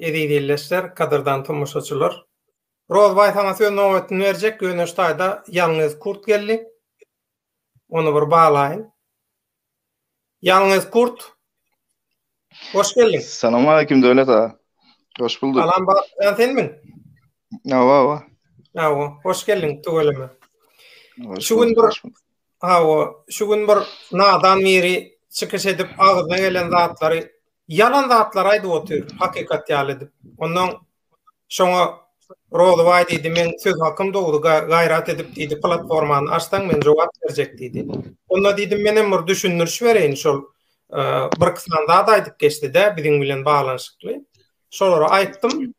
Eziz illeşler, gadyrdan tomaşaçylar. Rozbaý saňa söz nobatyny berjek, ýöne şu taýda ýalňyz kurt geldi. Ony bir baglaýyn. Ýalňyz kurt. Hoş geldiň. Salam aleyküm Döwlet aga. Hoş bulduk. Salam Batyjan senmiň? Awa, awa. Awa, hoş geldiň tüweleme. Şu gün bir Hawa, şu gün bir nadan biri çykyş edip agzyna gelen zatlary ýalan zatlar aýdyp otyr, hakykat ýaly edip. Ondan şoňa Rozybaý diýdi, men söz hakym dogry gaýrat edip diýdi, platformany açsaň men jogap berjek diýdi. Onda diýdim, menem bir düşündiriş bereýin şol e, bir kysman zat aýdyp geçdi-de biziň bilen baglanyşykly. Şolara aýtdym.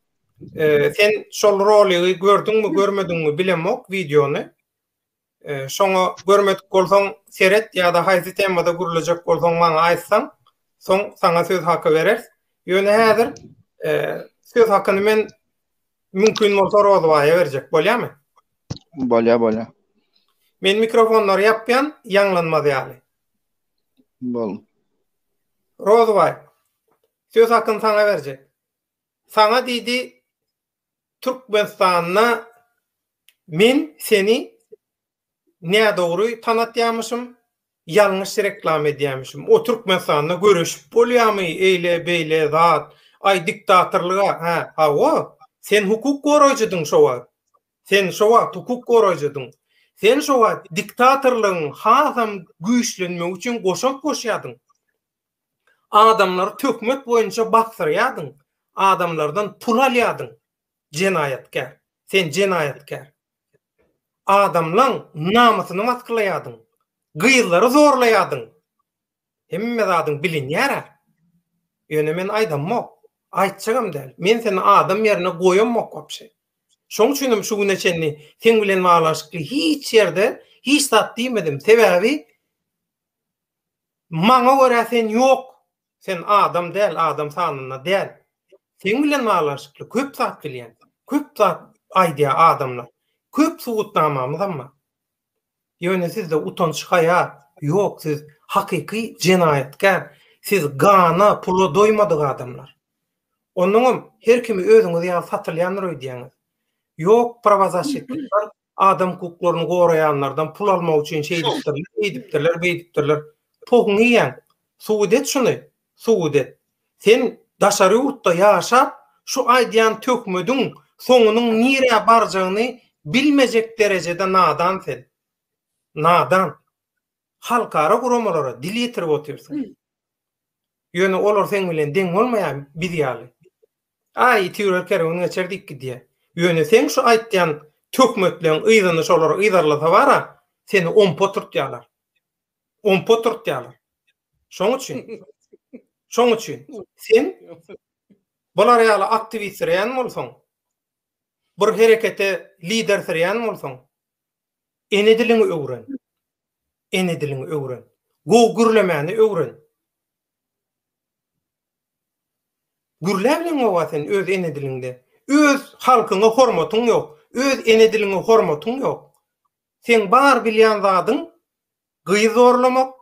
E, sen şol roligi gördüňmi, görmediňmi bilemok wideony. Şoňa görmedik bolsaň seret ýa-da haýsy temada gürlejek bolsaň maňa aýtsaň, soň saňa söz haky bereris. Ýöne häzir söz hakyny men mümkin bolsa Rozybaýa berjek bolýarmy? Bolýar, bolýar. Men mikrofonlary ýapýan, ýaňlanmaz ýaly. Bol. Rozybaý, söz hakyny saňa berjek. Saňa diýdi, Türkmenistanda men seni nädogry tanatýamyşym, ýalňyş reklama edýämişim. O Türkmenistanda göreşip bolýamy eýle beýle zat, aý diktatorlyga hä, hawa, sen hukuk goraýjydyň şo wagt. Sen şo wagt hukuk goraýjydyň. Sen şo wagt diktatorlygyň hasam güýçlenmegi üçin goşant goşýadyň. Adamlary töhmet boýunça baksyrýadyň, adamlardan pul alýadyň, jenaýatkär, sen jenaýatkär. Adamlaň namysyny waskylaýadyň, gyzlary zorlaýadyň. Hemme zadyň bilinýär-ä. Ýöne men aýdammok, aýtjagam däl. Men seni adam ýerine goýammok wapşe. Şoň üçinem şu güne çenli seň bilen baglanyşykly hiç ýerde hiç zat diýmedim. Sebäbi Maňa görä sen ýok. Sen adam däl, adam sanynda däl. Seň bilen baglanyşykly köp zat bilýän. Köp zat aýdýar adamlar. Köp subutnamamyzam bar. Ýöne sizde utanç-haýa ýok, siz hakyky jenaýatkär. Siz gana, pula doýmadyk adamlar. Onnoňam her kimi özüňiz ýaly satylýandyr öýdýäňiz. Ýok prawazaşitlikler, adam hukuklaryny goraýanlardan pul almak üçin şeýdipdirler, beýdipdirler, beýdipdirler. Pohuňy iýen. Subut et şuny. Subut et. Sen daşary ýurtda ýaşap, şu aýdýan töhmediň soňunyň nirä barjagyny bilmejek derejede nadan sen. Nadan. halkara guramalara dil ýetirip otyrsyň. Ýöne olar seň bilen deň bolmaýar biz ýaly. Aý iti ýörer kerwen geçer diýip gidýär. Ýöne seň şu aýtýan töhmetleň yzyny şolar yzarlasa bara seni ompa oturtýarlar. Ompa oturtýarlar. Şoň üçin Şoň üçin sen bular ýaly aktiwistleýän bolsaň, bir herekete lidersirýän bolsaň, Ene diliňi öwren. Ene diliňi öwren. Gowy gürlemäni öwren. Gürläbileňmi oba sen öz ene diliňde? Öz halkyňa hormatyň ýok. Öz ene diliňe hormatyň ýok. Seň bar bilýän zadyň gyz zorlamak,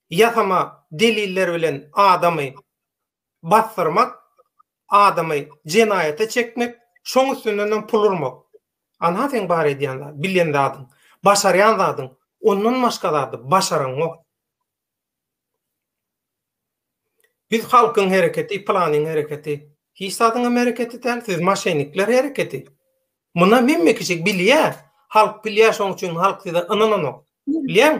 ýasama deliller bilen adamy basdyrmak, adamy jenaýata çekmek, şoň üstünden hem pul urmak. Ana seň bar edýän zat, bilýän zadyň, başarýan zadyň, ondan başga zady başaraňok. Biz halkyň hereketi, planyň hereketi. Hiç zadyňam hereketi däl, siz maşenikler hereketi. Munam hemme kişi bilýä. Halk bilýä şoň üçin halk size ynananok. Bilýäň?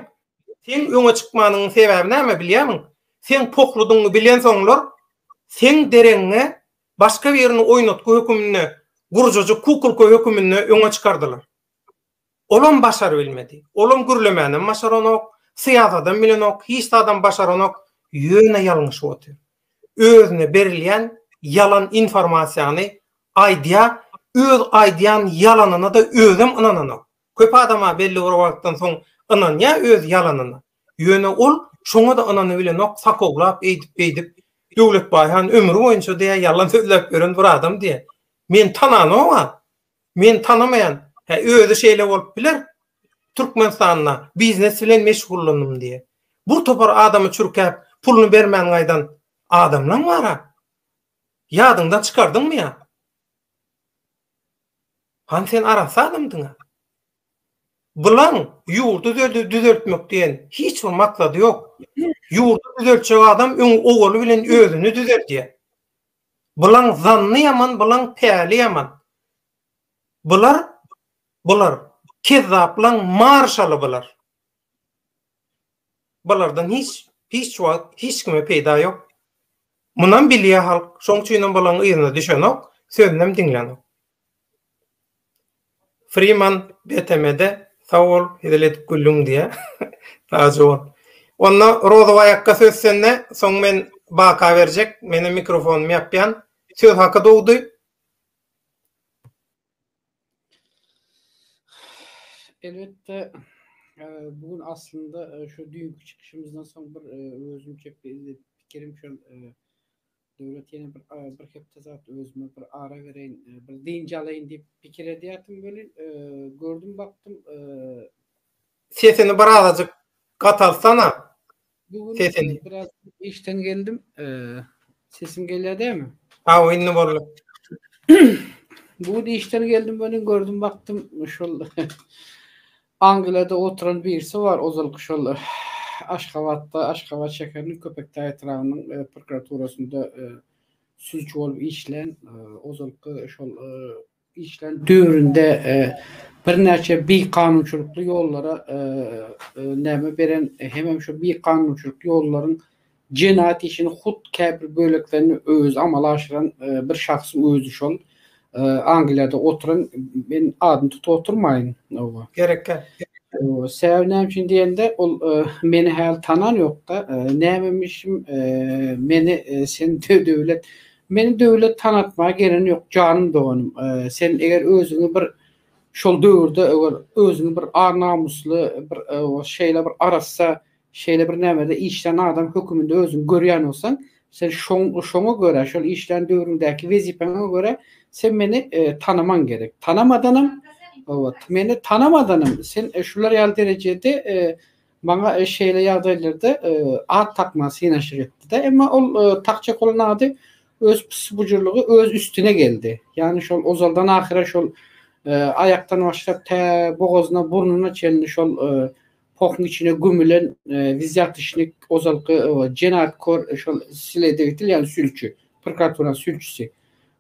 Seň öňe çykmanyňyň sebäbi näme bilýämiň? Seň pohludyňy bilensoňlar seň deregiňe başga birini oýnatgy höküminde, gurjajyk kukulka höküminde öňe çykardylar. Olam başarybilmedi. Olam gürlemänem başaranok, syýasadam bilenok, hiç zadam başaranok, ýöne ýalňyşyp otyr. Özüne berilýän ýalan informasiýany aýdýar, öz aýdýan ýalanyna-da özem ynananok. Köp adam-a belli bir wagtdan soň ynanýar öz ýalanyna. Ýöne ol şoňa-da ynanybilenok, sakowlap eýdip-beýdip, Döwletbaý han ömri boýunça diýýär ýalan sözläp ýören bir adam diýýär. Men tananogam. Meni tanamaýan, hä özi şeýle bolup biler, Türkmenistanda biznes bilen meşgullandym diýýä. Bu topar adamy çürkäp, puluny bermän gaýdan adamlaň bar-a. Ýadyňdan çykardyňmy ýa? Hany sen arassa adamdyň-a? Bulaň ýurdy düzeltmek diýen hiç bir maksady ýok. Ýurdy düzeltjek adam öň owaly bilen özüni düzeldýä. Bulaň zanny ýaman bulaň päli ýaman. Bular bular kezzaplaň marşaly bular. Bulardan hiç hiç wagt hiç kime peýda ýok. Munam bilýä halk. Şoň üçinem bulaň yzyna düşenok, sözünem diňlenok. Freeman BTM-de sag bol hezil edip güldüň diýýär. Sag bol. Onda Rozow aýakga söz sende, soň men baka berjek. Menem mikrofonymy ýapýan. Söz haky dogdy. Elbetde e, bu gün aslynda e, şu düýnki çykyşymyzdan soň bir e, özümçe pikir pikirem şol e, Döwlet ýene bir bir hepde zat özüme bir ara bereýin, bir dynç alaýyn diýip pikir edýärdim welin, gördüm bakdym, Sesini birazajyk gatalsana. Sesini. Biraz işden geldim. Sesim gelýär dämi? Aw, indi boldy. Bu gün işden geldim welin gördüm bakdym şol Angliýada oturan birisi bar, ozalky şol Aşgabatda, Aşgabat şäheriniň Köpetdag etrabynyň prokuraturasynda süýji bolup işlän, ozalky şol işlän döwründe birnäçe bikanunçylykly ýollara näme beren, hemem şu bikanunçylyk ýollaryň Jenaýat işini hut käbir böleklerini özi amala aşyran bir şahsyň özi şol Angliýada oturan men adyny tutup oturmaýyn. Gerekkä. Sebäbi näme üçin diýende ol meni häli tanan ýokda. Nämemişim meni sen döwlet meni döwlet tanatmaga gelen ýok janym doganym. Sen eger özüňi bir şol döwürde eger özüňi bir ar namysly bir şeýle bir arassa Şeýle bir nämede işlän adam höküminde özüňi görýän bolsaň, sen şoň-şoňa görä, şol işlän döwrüňdäki wezipäňe görä sen meni tanamaň gerek. Tanamadanam, obat, meni tanamadanam sen şular ýaly derejede maňa şeýle ýagdaýlarda at tapmaga synaşyk etdi-de. Emma ol takjak bolan ady öz pysy-bujurlygy öz üstüne geldi. Ýagny şol ozaldan ahyra şol aýakdan başlap tä bogazyna, burnuna çenli şol Pohuň içine gömülen wizýatişnik ozalky jenaytkor şol sledewtil ýagny sülçi, prokuraturyň sülçisi.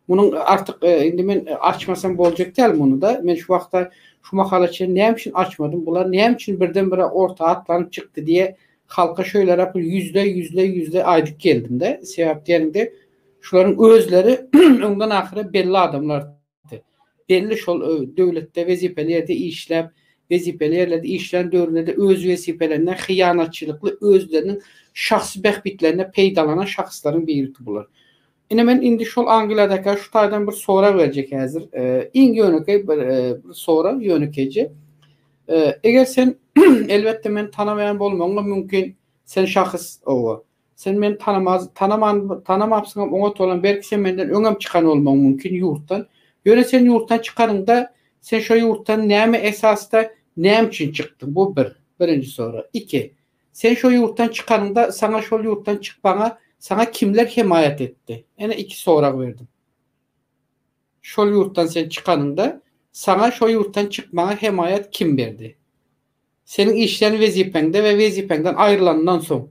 Munuň artyk indi men açmasam boljak däl muny-da. Men şu wagta şu mahala çenli näme üçin açmadym? Bular näme üçin birden-bire orta atlanyp çykdy diýe halka şöýleräk bir ýüzleý, ýüzleý, ýüzleý aýdyp geldim-de. Sebäp diýeniňde şularyň özleri öňden ahyra belli adamlar. çykdy. Belli şol döwletde wezipeli ýerde işläp, wezipeli ýerlerde işlän döwründe-de öz wezipelerinden hyýanatçylykly özleriniň şahsy bähbitlerine peýdalanan şahslaryň biriki bular. Ine men indi şol Angliýadaka şu taýdan bir sorag berjek häzir. Iň ýönekeý bir sorag ýönekeýje. Eger sen elbetde meni tanameýän bolmagyň mümkin sen şahys owa. Sen meni tanamaz, tanaman, tanamapsyňam, oňat bolam, belki sen menden öňem çykan bolmagyň mümkin ýurtdan. Ýöne sen ýurtdan çykanyňda, sen şo ýurtdan näme esasda, näme üçin çykdyň? Bu bir, birinji sorag. Iki, sen şo ýurtdan çykanyňda, saňa şol ýurtdan çykmaňa saňa kimler hemaýat etdi? Ene iki sorag berdim. Şol ýurtdan sen çykanyňda, saňa şo ýurtdan çykmaňa hemaýat kim berdi? Seniň işleýän wezipäňde we wezipäňden aýrylandan soň,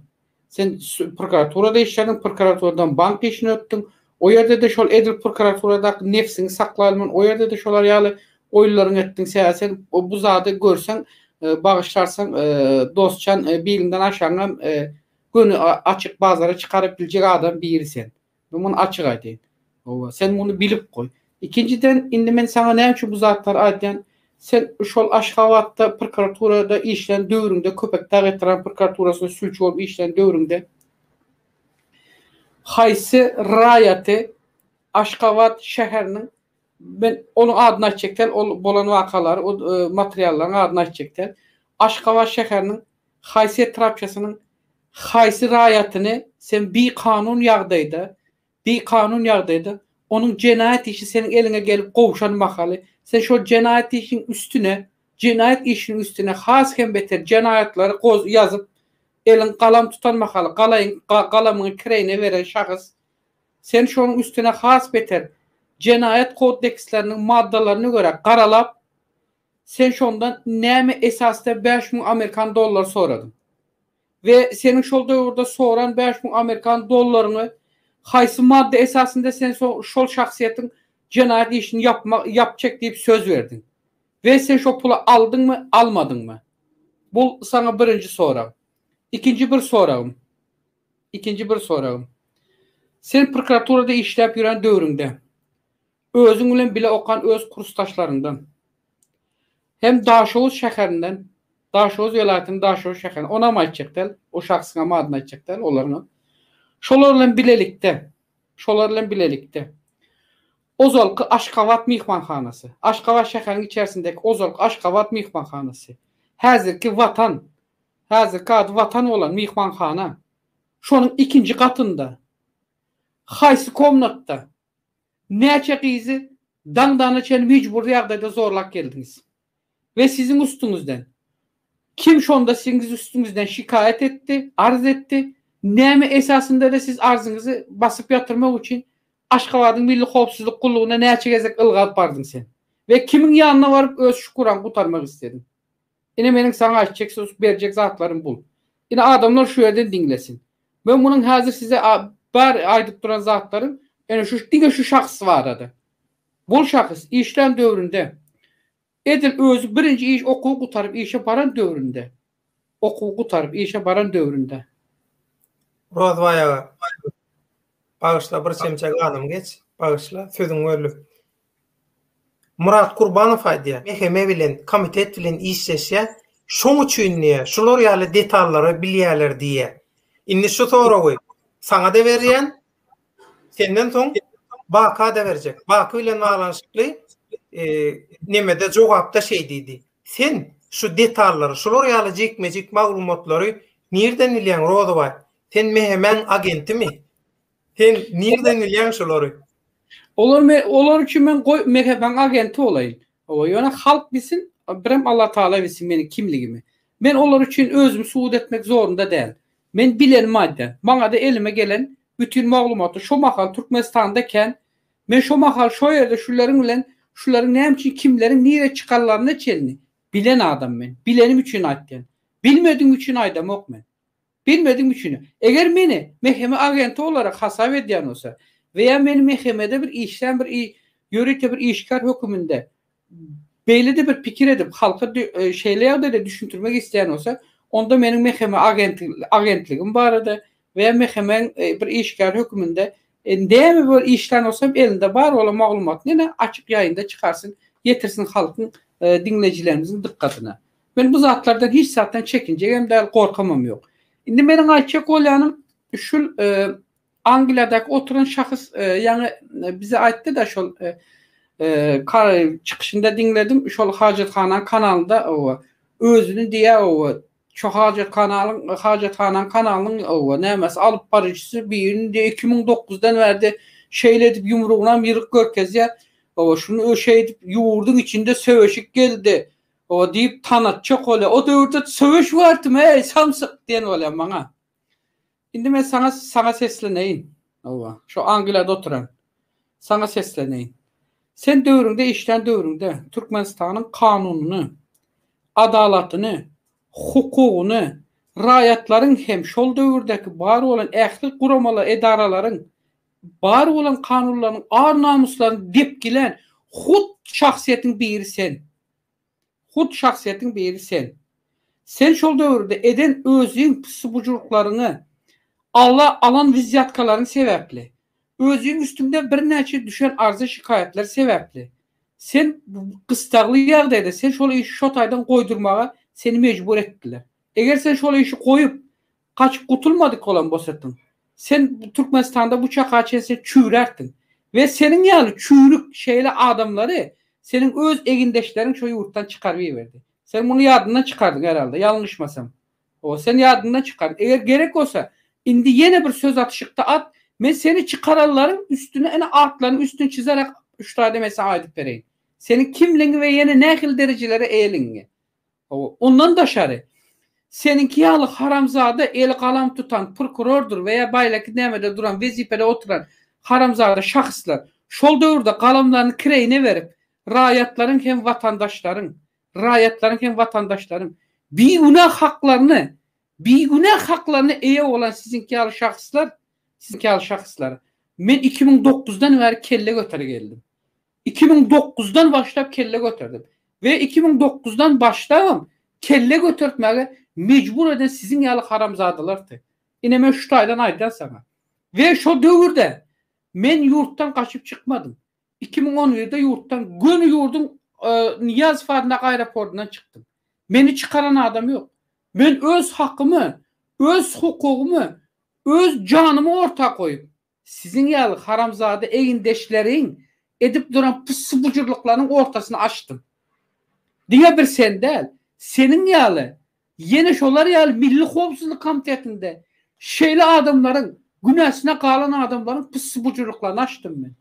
sen prokuraturada işlediň, prokuraturadan bank işine ötdüň, o ýerde-de şol edil prokuraturadaky nebsiňi saklaýylman, o ýerde-de şolar ýaly oýunlaryňy etdiň, sebäbi sen bu zady görseň, bagyşlarsyň, dostjan, biliňden aşaňam göni açyk bazara çykaryp biljek adam biri sen. Men muny açyk aýdaýyn. Hawa, sen muny bilip goý. Ikinjiden, indi men saňa näme üçin bu zatlary aýdýan? Sen şol Aşgabatda prokuraturada işlän döwrüňde, Köpetdag etrap prokuraturasynda sülçi bolup işlän döwrüňde haýsy raýaty Aşgabat şäheriniň, men onuň adyny aýtjak däl, ol bolan wakalary, ol materiallaryň adyny aýtjak däl, Aşgabat şäheriniň Haýsy etrapiýasynyň haýsy raýatyny sen bikanun ýagdaýda, bikanun ýagdaýda, onuň jenaýat işi seniň eliňe gelip gowşan mahaly, sen şol jenaýat işiň üstüne, jenaýat işiniň üstüne has hem beter jenaýatlary goz, ýazyp, eliň galam tutan mahaly, galaýyň, ga, galamyňy kireýine beren şahs, sen şonuň üstüne has beter Jenaýat kodeksleriniň maddalaryna görä garalap, Sen şondan näme esasda bäş müň amerikan dollary soradyň? We seniň şol döwürde soran bäş müň amerikan dollaryňy haýsy madda esasynda sen şol şahsyýetiň jenaýat işini ýapjak diýip söz berdiň? We sen şo puly aldyňmy, almadyňmy? Bu saňa birinji sorag. Ikinji bir soragym. Ikinji bir soragym. Sen prokuraturada işläp ýören döwrüňde, Özüň bilen bile okan öz kursdaşlaryňdan hem Daşoguz şäherinden, Daşoguz welaýatynyň Daşoguz şäherinden, ony hem aýtjak däl, o şahsyň hem adyny aýtjak däl, olaryň hem. Şolar bilen bilelikde, şolar bilen bilelikde ozalky Aşgabat myhmanhanasy, Aşgabat şäheriň içerisindäki ozalky Aşgabat myhmanhanasy, häzirki Watan, häzirki ady Watan bolan myhmanhana, şonuň ikinji gatynda, haýsy komnatda, Näçe gyzy daňdana çen mejbury ýagdaýda zorlap geldiňiz we siziň üstüňizden? Kim şonda siziň üstüňizden şikaýat etdi, arz etdi? Näme esasynda-da siz arzyňyzy basyp ýatyrmak üçin Aşgabadyň Milli howpsuzlyk gullugyna näçe gezek ylgalyp bardyň sen? We kimiň ýanyna baryp öz şüküraň gutarmak islediň? Ine meniň saňa aýtjak söz berjek zatlarym bul. Ine adamlar şu ýerden diňlesin. Men munuň häzir size a bar aýdyp duran zatlarym ene şu diňe şu şahs barada. Bul şahs işlän döwründe edil özi birinji iş okuw gutaryp işe baran döwründe okuw gutaryp işe baran döwründe. Rozbaý aga. Bagyşla bir çemçe ganym geç. Bagyşla sözüň bölüp. Murat Kurbanow aýdýar, meheme bilen, komitet bilen işleşýär, şoň üçin diýýär, şular ýaly detallary bilýärler diýýär. Indi şu soragy saňa-da berýän, senden soň Baka-da berjek. Baky bilen baglanyşykly nemede, jogapda şeý diýdi, Sen şu detallary, şular ýaly jikme-jik maglumatlary nirden bilýäň, Rozowaý? Sen mehemäň agentimi? Sen nirden bilýäň şolary? Olar me olar üçin men goý Mehebaň agenti bolaýyn. Hawa, ýöne halk bilsin, birem Allatagala bilsin meniň kimligimi. Men olar üçin özümi subut etmek zorunda däl. Men bilenimi aýdýan. Maňa-da elime gelen bütin maglumaty şo mahal Türkmenistanda ekän. Men şo mahal şo ýerde şuleriň bilen şularyň näme üçin kimleriň nirä çykanlaryna çenli bilen adam men. Bilenim üçin aýtýan. Bilmedigim üçin aýdamok men. Bilmedim üçin. Eger meni mhme agenti olarak hasap edýän bolsa we ýa meni mhmde bir işlän bir ýörite bir işgär höküminde beýlede bir pikir edip halka şeýle ýagdaýda düşündirmek isleýän bolsa onda meniň mhme agentligim barada we ýa mhme bir işgär höküminde näme bir işlän bolsam elinde bar bolan maglumatyny ine açyk ýaýynda çykarsyn ýetirsin halkyň diňleýjilerimiziň dykgatyna. Men bu zatlardan hiç zatdan çekinjegem däl, gorkamam ýok. Indi meniň aýtjak bolýanym, şul Angliýadaky oturan şahs ýaňy bize aýtdy-da şol çykyşynda diňledim, şol hajathananyň kanalynda özüni diýýä şu hajathanalyň hajathanaň kanalynyň owa nämesi alyp baryjysy birini diýýä iki müň dokuzdan bärde şeýle edip ýumrugynam ýygyk görkezýä owa şuny şeýdip ýurduň içinde söweşik geldi Oba diýip tanatjak bolýar. O döwürde söweş wagty me, eý, samsyk diýen bolýar maňa. Indi men saňa saňa sesleneýin. Oba, şu Angliýada oturan. Saňa sesleneýin. Sen döwrüňde işlän döwrüňde Türkmenistanyň kanunyny, adalatyny, hukugyny, raýatlaryň hem şol döwürdäki bar bolan ähli guramala edaralaryň bar bolan kanunlarynyň ar-namyslaryny depgilän hut şahsyýetiň biri sen. Hut şahsyýetiň biri sen. Sen şol döwürde eden özüň pissibujurklaryňy, ala alan wizýatkalaryň sebäpli, özüň üstüňde birnäçe düşen arza-şikaýatlar sebäpli, sen gystagly ýagdaýda sen şol işi şo taýdan goýdurmaga seni mejbur etdiler. Eger sen şol işi goýup, Gaçyp gutulmadyk bolan bosatyň. Sen Türkmenistanda bu çaka çen sen çüýräkdiň. We seniň ýaly çüýrük şeýle adamlary seniň öz egindeşleriň şo ýurtdan çykaryp iberdi. Sen muny ýadyndan çykardyň herhalda, ýalňyşmasam. Owa, sen ýadyndan çykardyň. Eger gerek bolsa, indi ýene bir söz atyşykda at, men seni çykaranlaryň üstüne ene atlarynyň üstüni çizerek, üç taýda men saňa aýdyp bereýin. Seniň kimligiňi we ýene nähili derejelere eýeligiňi. Hawa, ondan daşary, seniňki ýaly haramzada eli galam tutan prokurordyr we ýa baýlaki nämede duran, wezipede oturan haramzada şahyslar şol döwürde galamlaryny kireýine berip, raýatlaryň hem watandaşlaryň, raýatlaryň hem watandaşlaryň bigünä haklaryny, bigünä haklaryna eýe bolan siziňki ýaly şahyslar, siziňki ýaly şahyslar, men iki müň dokuzdan bäri kelle göter geldim. Iki müň dokuzdan başlap kelle göterdim we iki müň dokuzdan başlabam kelle götertmäge mejbur eden siziň ýaly haramzadalardy. Ine men şu taýdan aýdýan saňa. We şo döwürde men ýurtdan gaçyp çykmadym. Iki müň on birde ýurtdan göni ýurduň Nyýazow adyndaky aeroportyndan çykdym. Meni çykaran adam ýok. Men öz hakymy, öz hukugymy, öz janymy orta goýup, Siziň ýaly haramzada egindeşleriň edip duran pussy-bujurlyklarynyň ortasyny açdym. Diňe bir sen däl, seniň ýaly, ýene şolar ýaly Milli howpsuzlyk komitetinde şeýle adamlaryň, günäsine galan adamlaryň pussy-bujurlyklaryny açdym men.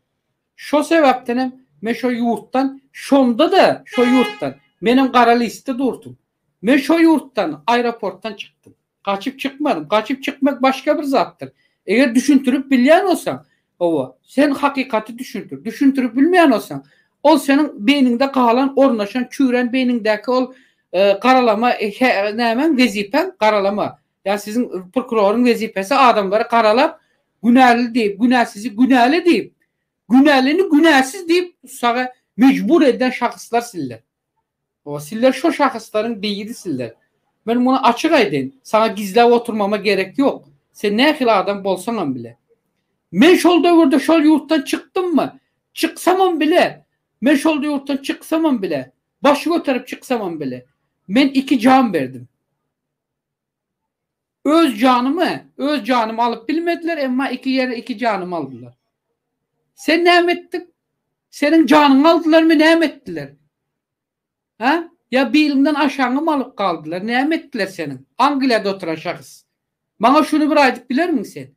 Şo sebäpdenem men şo ýurtdan, şonda-da şo ýurtdan, menem gara listde durdum. Men şo ýurtdan, aeroportdan çykdym. Gaçyp çykmadym. Gaçyp çykmak başga bir zatdyr. Eger düşündirip bilýän bolsaň, hawa, sen hakykaty düşündir. Düşündirip bilmeýän bolsaň, ol seniň beýniňde galan, ornaşan, çüýrän beýniňdäki ol garalama nämäň, wezipäň, garalama. Ýa siziň prokuroryň wezipesi adamlary garalap, günäli diýip, günäsizi günäli diýip, günälini günäsiz diýip tutsaga mejbur eden şahyslar sizler. Baba, sizler şo şahyslaryň beýidisiler. Men muny açyk aýdaýyn, saňa gizläp oturmama gerek ýok. Sen nähili adam bolsaňam bile. Men şol döwürde şol ýurtdan çykdymmy? Çyksamam bile, men şol ýurtdan çyksamam bile, baş göterip çyksamam bile, men iki jan berdim. Öz janymy, öz janymy alyp bilmediler, emma iki ýere iki janymy aldylar. Sen näme etdiň? Seniň janyňy aldylarmy, näme etdiler? Hä? Ýa biliňden aşaňymy alyp galdylar, näme etdiler seniň, Angliýada oturan şahs? Maňa şuny bir aýdyp bilermiň sen?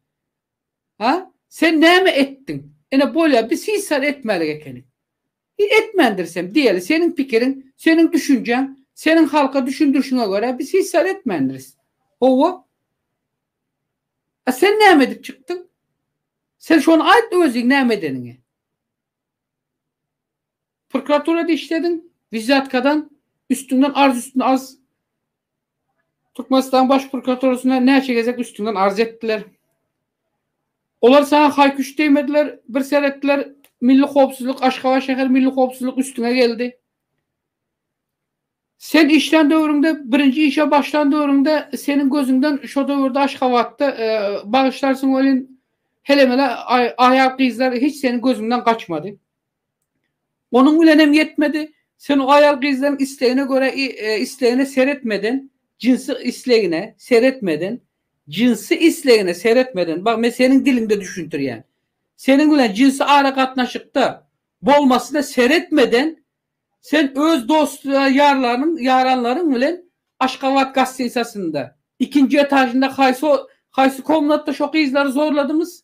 Hä? Sen näme etdiň? Ine bolýar, biz hiç zat etmälik ekeniň. Biz etmändirisem, diýeli, seniň pikiriň, seniň düşünjäň, seniň halka düşündirişiňe görä biz hiç zat etmändiris. Hawa. A sen näme edip çykdyň? Sen şony aýt özüň näme edeniňi. Prokuraturada işlediň, wizyatkadan, üstüňden arz üstüne arz Türkmenistan Baş prokuraturasyna näçe gezek üstüňden arz etdiler. Olar saňa haý-küş degmediler, bir ser etdiler, Milli howpsuzlyk, Aşgabat şäher milli howpsuzlyk üstüňe geldi. Sen işlän döwrüňde, birinji işe başlan döwrüňde seniň gözüňden şo döwürde Aşgabatda e, bagyşlarsyň welin hele-mele aý- aýal gyzlar hiç seniň gözüňden gaçmady. Onuň bilenem ýetmedi, sen o aýal-gyzlaryň islegine görä islegine seretmedin, jynsy islegine seretmedin, jynsy islegine seretmedin, bag men seniň diliňde düşündirýän, seniň bilen jynsy aragatnaşykda bolmasyna seretmeden sen öz dost-ýarlaryň ýaranlaryň bilen Aşgabat gastinsasynda, ikinji etažynda haýsy haýsy komnatda şo gyzlary zorladymyz?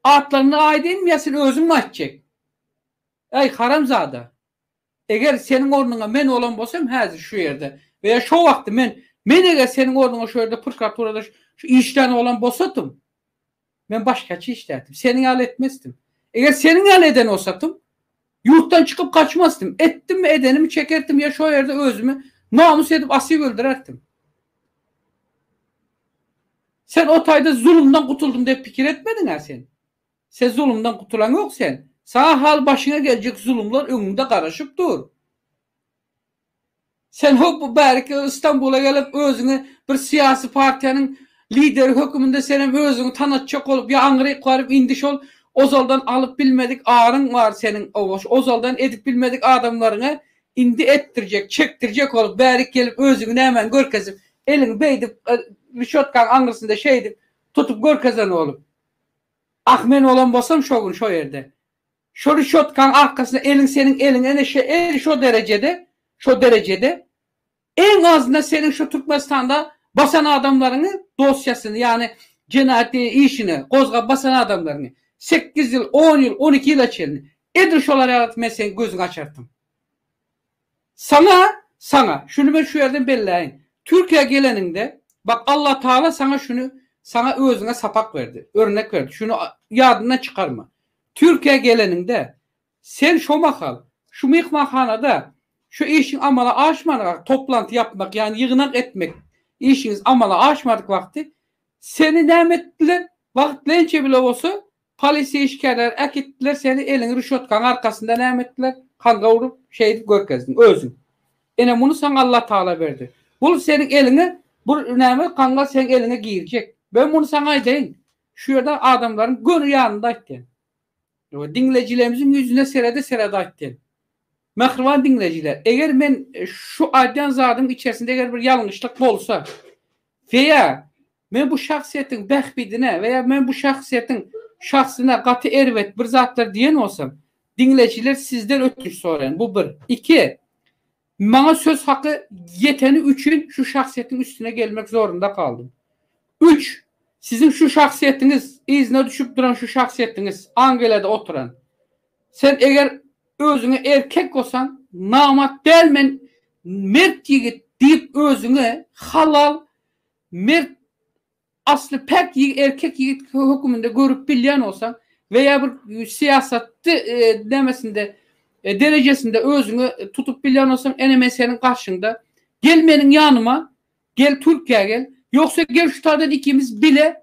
Atlaryny aýdaýynmy ýa sen özüňmi aýtjek? Äý, haramzada! Eger seniň ornuňa men bolan bolsam häzir şu ýerde we ýa şo wagty men, men eger seniň ornuňa şu ýerde prokuraturada şu, şu işlän bolan bolsadym, men başgaça işlärdim. Seniň ýaly etmezdim. Eger seniň ýaly eden bolsadym, Ýurtdan çykyp gaçmasdym. Etdimmi edenimi çekertdim ýa şo ýerde özümi namys edip asyp öldürertdim. Sen o taýda zulumdan gutuldym diýip pikir etmediňä sen. Sen zulumdan gutulaň ýok sen. Saňa hal başyňa geljek zulumlar öňüňde garaşyp dur. Sen hoppa bäriki Stambula gelip özüňi bir syýasy partiýanyň lideri höküminde senem özüňi tanatjak bolup ýa aňryk baryp indi şol ozaldan alyp bilmedik aryň bar seniň ozaldan edip bilmedik adamlaryňy indi etdirjek çekdirjek bolup bärik gelip özüňi nämäni görkezip eliňi beýdip rişotkaň aňrysynda şeýdip tutup görkezen bolup ah men bolan bolsam şo gün şo ýerde Şo rişotkaň arkasyna eliň seniň eliň ene şe el şo derejede şo derejede eň azyndan seniň şo Türkmenistanda basan adamlaryňy dosýasyny ýagny jenaýat işini gozgap basan adamlaryňy sekiz ýyl on ýyl on iki ýyla çenli edil şolar ýaly men seniň gözüňi açartym. Saňa, saňa, şuny men şu ýerden belläýin, Türkiýä geleniňde, bak, Allatagala saňa şuny, saňa özüňe sapak berdi, örnek berdi, şuny ýadyndan çykarma. Türkiýä geleniňde, sen şo mahal, şu myhmanhanada şu işiň amala aşman wagty, toplanty ýapmak, ýagny ýygnak etmek işiňiz amala aşmadyk wagty, seni näme etdiler, wagtlaýynça bile bolsa, Polisiýa işgärleri äkitdiler, seni eliňi rüşotkaň arkasynda näme etdiler, kanga urup, şeýdip görkezdiň, özüň. Ine, muny saňa Allatagala berdi. Bul seniň eliňe, bul näme, kanga seň eliňe girjek. Men muny saňa aýdaýyn, şu ýerde adamlaryň göni ýanynda aýtýan. Ýa-da diňleýjilerimiziň ýüzüne serede-serede aýtýan. Mähriban diňleýjiler, eger men şu aýdýan zadymyň içerisinde eger bir ýalňyşlyk bolsa, Feýa, Men bu şahsyýetiň bähbidine we ýa men bu şahsyýetiň şahsyna gaty erbet bir zatlar diýen bolsam, diňleýjiler sizden ötünç soraýan, bu bir. Iki, maňa söz haky ýeteni üçin şu şahsyýetiň üstüne gelmek zorunda galdym. Üç, siziň şu şahsyýetiňiz, yzyna düşüp duran şu şahsyýetiňiz, Angelýada oturan. Sen eger özüňe erkek bolsaň namat däl men mert ýigit diýip özüňe halal mert asly päk erkek ýigit höküminde görüp bilýän bolsaň we ýa bir syýasatdy nämesinde derejesinde özüňe tutup bilýän bolsaň ene men seniň garşyňda gel meniň ýanyma gel türkiýä gel ýogsa gel şu taýdan ikimiz bile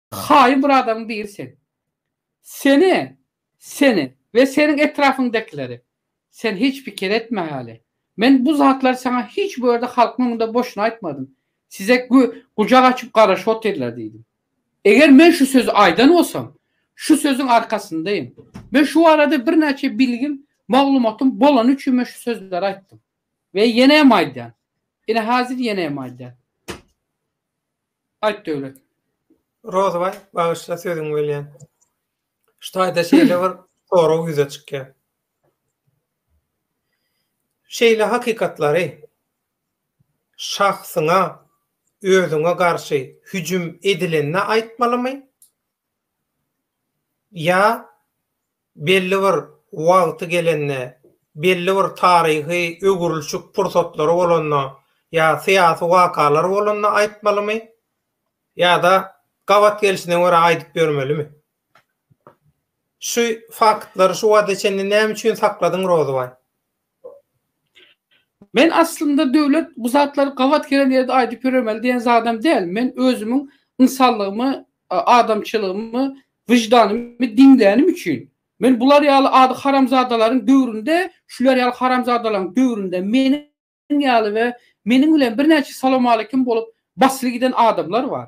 Haýyn bir adamyň biri sen. Seni, seni we seniň etrapyňdakileri sen hiç pikir etme hali. Men bu zatlary saňa hiç bir ýerde halkyň öňünde boşuna aýtmadym. Size gü, gujak açyp garaşyp otyrlar diýdim. Eger men şu sözi aýdan bolsam, şu sözüň arkasyndaýyn. Men şu barada birnäçe bilgim, maglumatym bolany üçin men şu sözleri aýtdym. We ýene hem aýdýan. Ine hazir ýene hem aýdýan. Aýt Döwlet. Rozybaý, bagyşla sözüňi bölýän. Şu taýda şeýle bir sorag ýüze çykýar. Şeýle hakykatlary şahsyňa, özüňe garşy hüjüm edilende aýtmalymy? Ýa belli bir wagty gelende, belli bir taryhy öwrülişik pursatlary bolanda ýa syýasy wakalar bolanda aýtmalymy ýa-da gabat gelşine görä aýdyp ýörmelimi? Şu faktlary şu wagta çenli näme üçin sakladyň Rozybaý? Men aslynda Döwlet bu zatlary gabat gelen ýerde aýdyp ýöremeli diýen zadam däl. Men özümiň ynsanlygymy, adamçylygymy, wyždanymy diňlänim üçin. Men bular ýaly ady haramzadalaryň döwründe, şular ýaly haramzadalaryň döwründe meniň ýaly we meniň bilen birnäçe salowmaleýkim bolup basyly giden adamlar bar.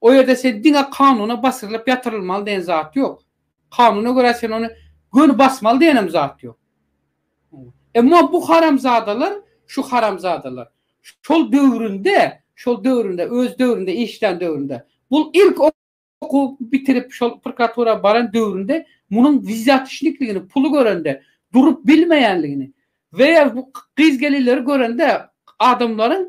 O ýerde sen diňe kanuna basyrylyp ýatyrylmaly diýen zat ýok. Kanuna görä sen ony göni basmaly diýenem zat ýok. Emma bu haramzadalar, şu haramzadalar şol döwründe, şol döwründe, öz döwründe, işlän döwründe, bul ilk okuw bitirip şol prokuratura baran döwründe munuň wizýatişnikligini, puly görende durup bilmeýänligini we ýa bu gyz-gelinleri görende adamlaryň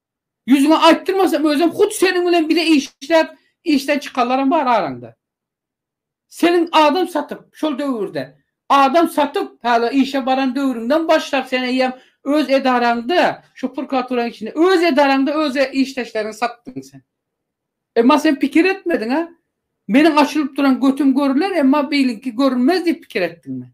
Ýüzüňe aýtdyrmasam özem hut seniň bilen bile işläp işden çykanlaram bar araňda. Seniň adam satyp şol döwürde adam satyp hala işe baran döwrüňden başlap sen eýýäm öz edaraňda şu prokuraturanyň içinde öz edaraňda öz işdeşleriňi satdyň sen. Emma sen pikir etmediň a meniň açylyp duran götüm görüler emma biliňki görünmez diýip pikir etdiňmi?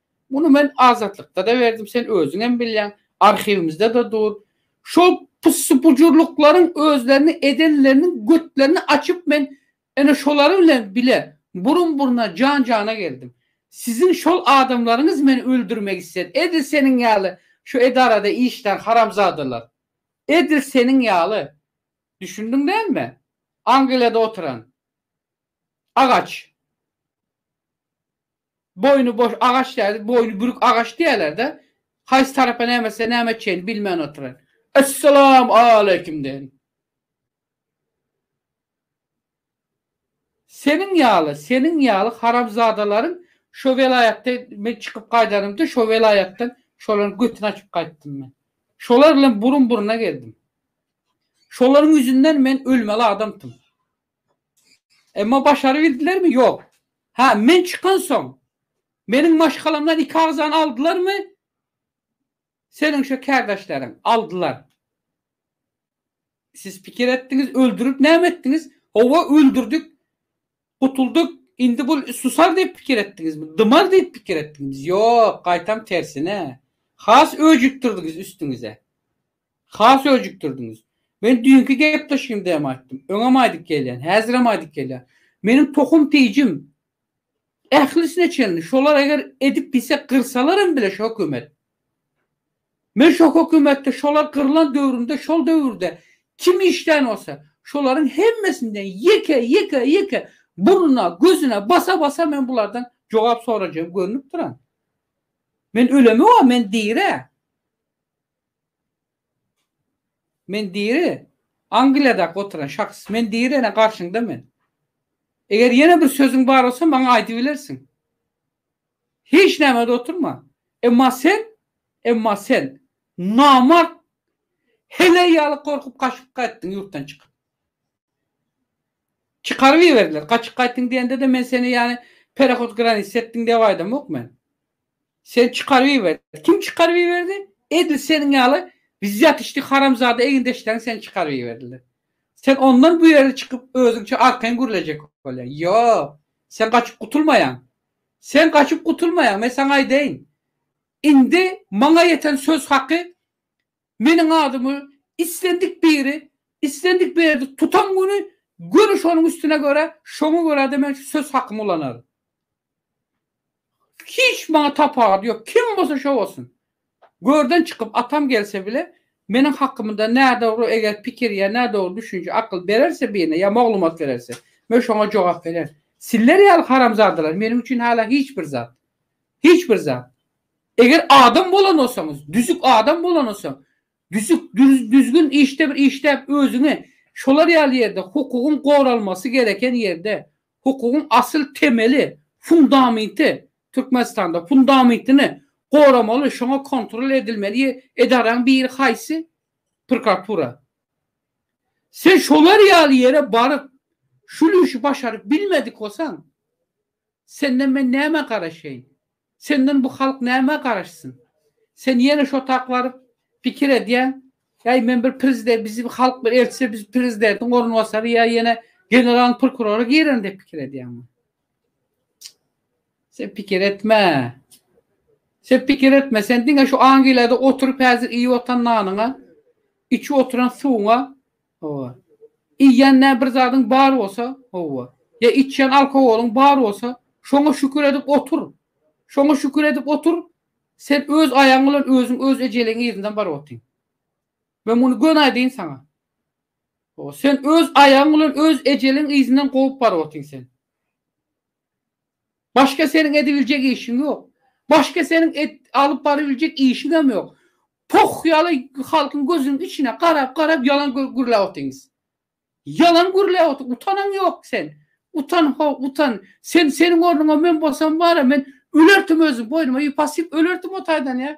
Muny men Azatlykda-da berdim, sen özüňem bilýäň, arhiwimizde-de dur. Şol pussy-pujurlyklaryň özlerini edenleriniň götlerini açyp men ene şolary bilen bile burun-buruna, jan-jana geldim. Siziň şol adamlaryňyz meni öldürmek isledi. Edil seniň ýaly şu edarada işlän haramzadalar. Edil seniň ýaly. Düşündiň dälmi? Angliýada oturan. Agaç. Boýny boş agaç däl, boýny bürük agaç diýerler-de. Haýsy tarapa näme etse näme etjegini bilmän oturan. Essalam aleýkum deýin. Seniň ýaly, seniň ýaly haramzadalaryň şo welaýatda men çykyp gaýdanymda şo welaýatdan şolaryň götüni açyp gaýtdym men. Şolar bilen burun-buruna geldim. Şolaryň ýüzünden men ölmeli adamdym. Emma başarybildilermi? Ýok. Hä, men çykansoň, meniň maşgalamdan iki agzany aldylarmy? Seniň şo kärdeşleriň. Aldylar. Siz pikir etdiňiz, öldürip näme etdiňiz? Hawa, öldürdik. Gutuldyk. Indi bu susar diýip pikir etdiňizmi? Dymar diýip pikir etdiňizmi? Ýok, gaýtam tersine. Has öjükdirdiňiz üstüňize. Has öjükdirdiňiz. Men düýnki gepleşigimde hem aýtdym. Öňem aýdyp gelýän, häzirem aýdyp gelýän. Meniň tohum-tijim ählisine çenli şolar eger edip diýse gyrsalar hem bile şu hökümet. Men şo hökümetde şolar gyrlan döwründe şol döwürde kim işlän bolsa şolaryň hemmesinden ýeke ýeke ýeke burnuna gözüne basa basa men bulardan jogap sorajagym görnüp duran. Men ölemi wa men diri. Men diri, Angliýadaky oturan şahs. Men diri, ene garşyňda men. Eger ýene bir sözüň bar bolsa, maňa aýdybilersiň. Hiç näme-de oturma. Emma sen, emma sen, namart, heleý ýaly gorkup gaçyp gaýtdyň ýurtdan çykyp. Çykaryp iberdiler. Gaçyp gaýtdyň diýende-de men seni ýany perehotkranist etdiň diýip aýdamok men. Sen çykaryp iber. Kim çykaryp iberdi? Edil seniň ýaly wzýatçnik haramzada egindeşleriň seni çykaryp iberdiler. Sen ondan bu ýerde çykyp özüňçe arkaýyn gürlejek bolýaň. Ýok. Sen gaçyp gutulmaýaň. Sen gaçyp gutulmaýaň, men saňa aýdaýyn. Indi maňa ýeten söz haky Meniň adymy islendik biri, islendik berdi tutan güni göni şonuň üstüne göre, şoňa görä-de men şu söz hakymy ulanaryn. Hiç maňa tapawudy ýok, kim bolsa şo bolsun. Görden çykyp atam gelse bile, meniň hakymda nädogry eger pikir ýa nädogry düşünje, akyl bererse birine ýa maglumat bererse, men şoňa jogap bererin. Sizler ýaly haramzadalar meniň üçin hala hiç bir zat. Hiç bir zat. Eger adam bolan bolsaňyz, düzük adam bolan bolsaň, düzük, düzgün işde bir işläp özüňi şolar ýaly ýerde hukugyň goralmasy gereken ýerde, hukugyň asyl temeli, fundaminti, Türkmenistanda fundamentini goramaly, şoňa kontrol edilmeli edaraň biri haýsy? Prokuratura. Sen şolar ýaly ýere baryp, şul işi başaryp bilmedik bolsaň, senden men nämä garaşaýyn? Senden bu halk nämä garaşsyn? Sen ýene şo tak baryp, pikir edýäň, Äý, men bir prezide, bizi halk bir eltse, biz prezidentiň orunbasary ýa ýene generalyň prokurory girerin diýip pikir edýäňmi? Sen pikir etme. Sen pikir etme. Sen diňe şu Angliýada oturyp häzir iýip otan nanyňa, içip oturan suwuňa Hawa. Iýýän nä bir zadyň bar bolsa, hawa, ýa içýän alkogolyň bar bolsa, şoňa şükür edip otur. Şoňa şükür edip otur, sen öz aýagyň bilen özüň öz ejeligiň yzyndan baryp otyň. Men muny göni aýdaýyn saňa. Hawa, sen öz aýagyň bilen öz ejeligiň yzyndan kowup baryp otyň sen. Başga seniň edibiljek işiň ýok. Başga seniň et, alyp barybiljek işiňem ýok. Poh ýaly halkyň gözüniň içine garap garap ýalan gürläp otyňyz. Ýalan gürläp otyň, utanyň ýok sen. Utan ho, utan. Sen seniň ornuňa men bolsam bara men ölerdim özüm boýnuma ýüp asyp ölerdim o taýdan ýa.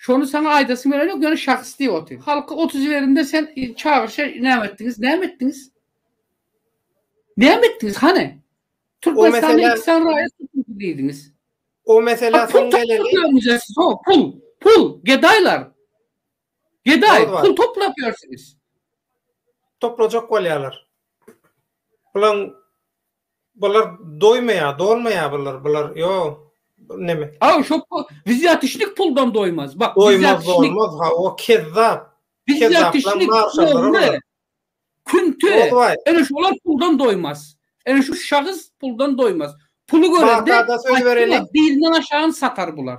Şony saňa aýdasym gelenok ýöne şahys diýip otyr. Halky ot jiberinde sen çagyryşa näme etdiňiz? Näme etdiňiz? Näme etdiňiz hany? Türkmenistanda iki sany raýat tutuldy diýdiňiz. O mesele soň geleli. Pul, pul, gedaýlar. Gedaý, pul toplap ýörsüňiz. Toplajak bolýarlar. Bulaň Bular doýmaýar, dolmaýar bular, bular ýok. Bu neme? Aw şo pu, wizýatişnik puldan doýmaz. Bak, Doýmaz, wizýatişnik, dolmaz, ha o kezzap. Kezzaplar, wizýatişnik marşallar ogry, bular. künti, Ozbaý, ene şolar puldan doýmaz. Ene şu şahys puldan doýmaz. Puly görende, Bagtada söz aýtdyňa, berenik. bizinden aşagyny satar bular.